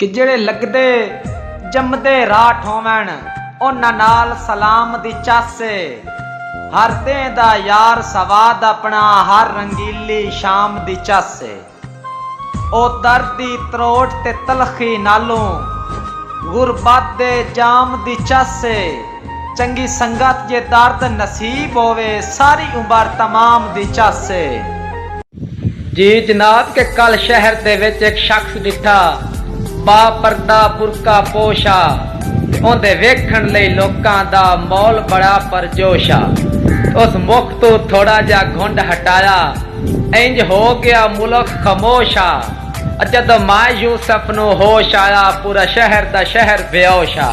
کہ جیڑھے لگدے جمدے راٹھ ہوون انہاں نال سلام دی چس اے ہر دیں دا یار سواد اپنا ہر رنگیلی شام دی چس اے او درد دی تروٹ تے تلخی نالوں غربت دے جام دی چس اے چنگی سنگت جے درد نصیب ہووے ساری عمر تمام دی چس اے۔ جی جناب کے کل شہر دے وچ ہک شخص ڈٹھا با پردہ برقع پوش آ اوندے ویکھن لئی لوکاں دا مول بڑا پر جوش آ اس مخ توں تھوڑا جیا گھنڈ ہٹایا اینج ہو گیا ملخ خموش آ جدوں مائے یوسف نوں ہوش آیا پورا شہر دا شہر بیہوش آ۔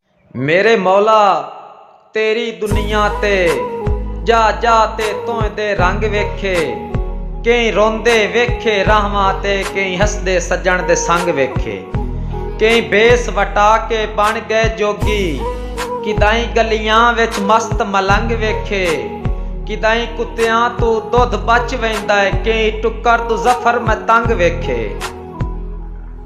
میݙے مولا تیݙی دنیا تے ڄا ڄا تے تہندے رنگ ویکھے کئیں روندے ویکھے راہواں تے کئیں ہسدے سڄݨ دے سنگ ویکھے کئیں بھیس وٹا کے بݨ ڳئے جوڳی کݙاہیں ڳلیاں وچ مست ملنگ ویکھے کݙاہیں کتیاں توں ݙدھ بچ ویندا کئیں ٹکر توں ظفر میں تنگ ویکھے۔